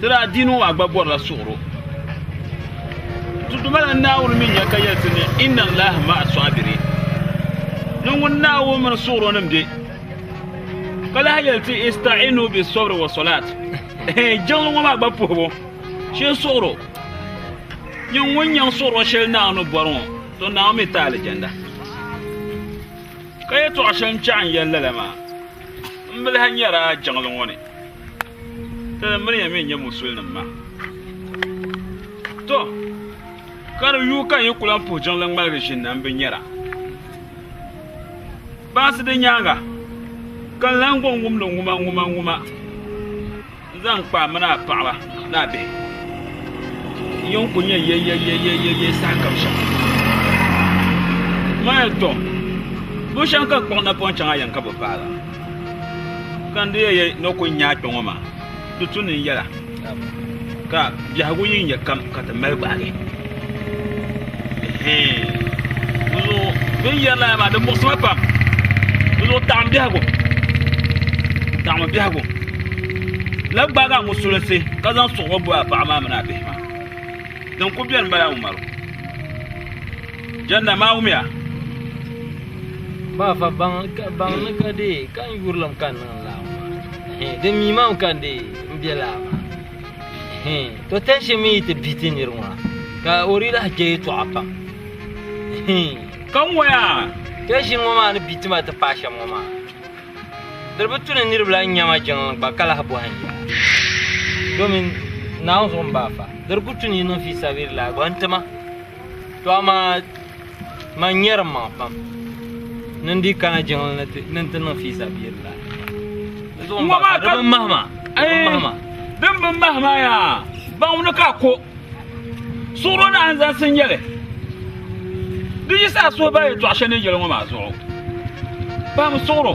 Di daa diini ŋɔ a gba bɔrila suɣiro. Tutu mala Naawuni mi nya ka yɛli ti ni inna Allaha ma'a sɔabiri ni ŋun Naawuni mini suɣiro nim be ka lahi yɛli ti ista'inu bi sɔbiri wa sɔlaat. Jiŋli ŋɔ maa gba puhibu shee suɣiro nyɛ ŋun nyaŋ suɣiro shɛli Naawuni ni bɔri ŋɔ to Naawuni mi ti alijanna. Ka yɛtɔɣa shɛli n chaɣi n yɛli lala maa m bi lahi nyari a jiŋli ŋɔ ni. Tala miriya mi n-nyɛ musulinim ma. Tɔ! Ka di yuui ka n yi ku lan puhi jiŋli ŋmaligi ʒini na m-bi nyara. Baŋsi di nyaaŋa ka n lan gɔŋ wumdi ŋuma ŋuma ŋuma n-zaŋ kpa a mini a paɣiba ni a bihi. N yɛn ku nya yeyeyeyeye sahakam shɛm. Maya tɔ! Bushɛm ka kpuɣi napɔŋ chaŋ a yɛn ka bi paai la? Ka n di yɛn yɛ ni o kuli nyaai kpɛ ŋɔ maa, di tu ni n yɛla, ka biɛhigu yi nyɛ kam ka ti mali gbaagi. Ɛhɛn. Di zuɣu din yɛri lala maa, di muɣisi ma pam. Di zuɣu taɣim biɛhigu, taɣimi biɛhigu. Labi gbaagi a ŋusulinsi ka zaŋ suɣuɣu bo a paɣa maa mini a bihi maa. Din kuli beni m-bala Umaru. Janna Mawumia. Ba fa baŋ ka baŋ ni ka dee ka n yurilim ka niŋ laa maa. Di mi mam ka n dee n bɛ laa maa. To tɛnshi mi yi ti bi ti niri ŋɔ ka o di lahi kpɛ yɛtɔɣa pam. Ka n waya. Tɛnshi ŋɔ maa ni bi ti ma ti paai shɛm ŋɔ maa. Diri bi tu ni niriba la n nyama jiŋlim gba ka lahi bɔhim ya. Domin naawuni zuɣu n ba fa. Diri ku tu ni yi niŋ fi sabiri laa gba n ti ma. To amaa man nyɛrim maŋa pam ni n dii kana jiŋli ni ti- ni n ti niŋ fiisa bia bila di zuɣu n Ŋɔ maa baŋ di ka- bin mahima di bin mahima din bi mahi maa yaa baŋ ni ka ko suɣuro ni an zaŋsi nyɛli di yi saa suhi baa yɛtɔɣa shɛli ni yɛli ŋɔ maa zuɣu pam suɣuro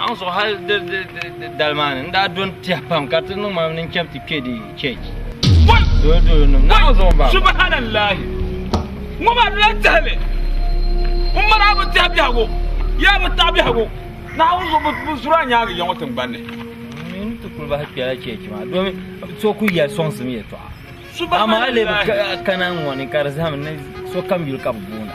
Aŋ zuɣu hali dali maa ni n daa doni tiɛhi pam ka ti niŋ maa ni n chɛb ti kpɛ di chɛch dolo dolo nim na aŋ zuɣu ba subhanallahi ŋɔ maa dila tɛhili n mali a bi tɛhi biɛhigu yaa bi taɣi biɛhigu na aŋ zuɣu bi zuri a nyaangi yɛŋɔ tingbanni ni ti kuli bahi kpɛla chɛch maa domi so ku yɛli sɔŋsim yɛtɔɣa amaa a lebi kana ŋɔ ni ka di zaham ni sokam yuli ka bi boona